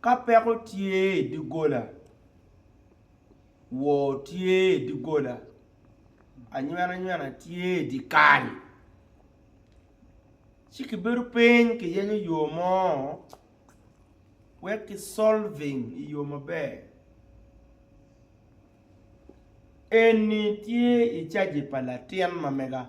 Ka peko tye i doggola, wor tye i doggola, anywenanywena tye i dye kal. Ci kibedo piny kiyenyo yo mo wek ki solving i yo maber. Eni tye i caji pa latin ma mega.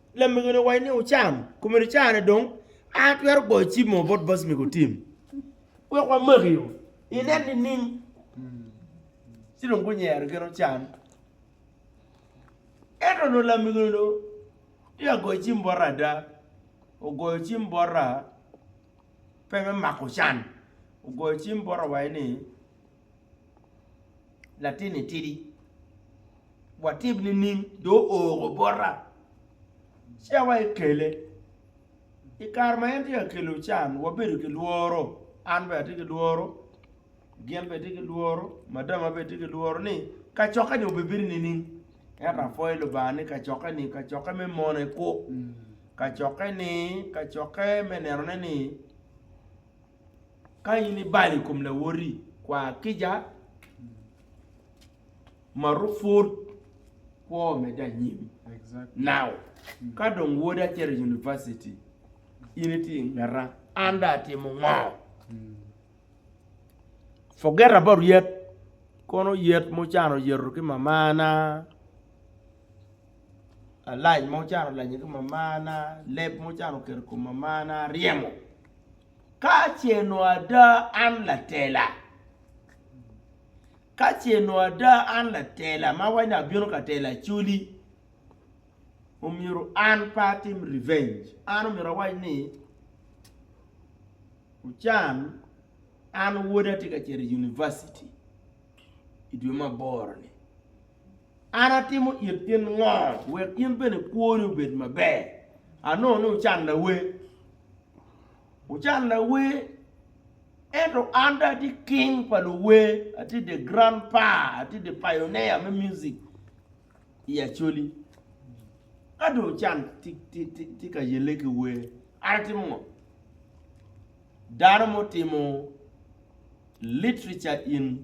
lamege-ni owaco ni, Wucam, komedi carane dong, an atwero goyo cim mo bot boc me gutim wek wamakio. Inen nining? Ci dong gunyero gin ocam. Ento onongo lamege-ni dong tye ka goyo cim bote ada. Ogoyo cim bote pe me mako can, ogoyo cim bote owaco ni, latinni tidi, watib nining? Do ooro bota ci awa ekele. I kare ma en tye ka kelo can, wabedo ki lworo, an bene atye ki lworo, gin bene tye ki lworo, madama bene tye ki lworo ni kacokke-ni obibino nining? Ento apwoyo Lubanga ni kacokke-ni kacokke me mone kwo, kacokke-ni kacokke me nenone ni Ka in ibalo i kom lawoti, kwa kica, maruk pud kwo medde anyim. Now, ka dong wodi acito i univaciti, in itye i ngeta, an dong atimo ngo? Forget about yet, kono yet ma ocano yeto ki mamana, alac ma ocano lanye ki mamana, leb ma ocano keto i kom mamana, ryemo. Ka ce nongo ada an latela, ka ce nongo ada an latela ma weny dong abino ka telo acoli, omyero an pe atim revenge, an omyero awac ni Ochan an woda tye ka cito i univaciti i dwe me aboro-ni. An atimo it gin ngo wek in bene kwoni obed maber? Anongo ni wucan lawe. Wucan lawe, ento an dong atye king pa luwe, atye the grand pa, atye the pioneer me music i Acholi. Ka dong wucan tye ka yelle ki we, an atimo ngo? Dano mutimo literature in.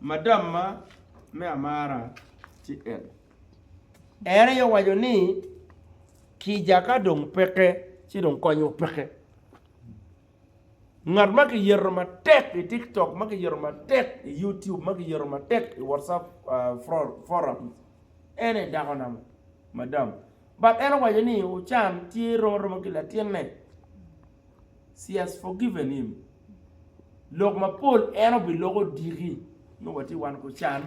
Madamma me amara tye en. En aye owaco ni kica ka dong peke ci dong konyo peke. Ngat ma kiyeto matek i TikTok, ma kiyeto matek i YouTube, ma kiyeto matek i WhatsApp uh, forum, en aye dako na madam. But en owaco ni Ochan tye roro ki latinne. she has forgiven him lok mapol en obiloko diki nongo watye wan ku can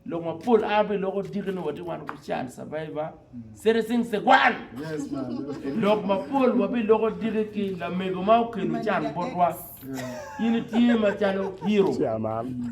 lok mapol an abiloko diki nongo watye wan ku can survivor citizen segwan Yes, man. Okay. lok mapol wabiloko diki ki lamego ma okelo can botwa in itye macalo hero Chairman.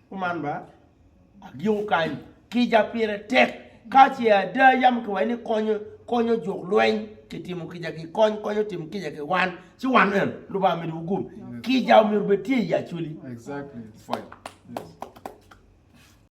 Kuman ba, adyeko kany kica pire tek ka ce ada yam kiwaco ni konyo konyo juk lweny kitimo kica ki kony konyo tim kica ki wan ci wan en lubanga medi wugum kica omyero bed tye i aculi exactly it's fine yes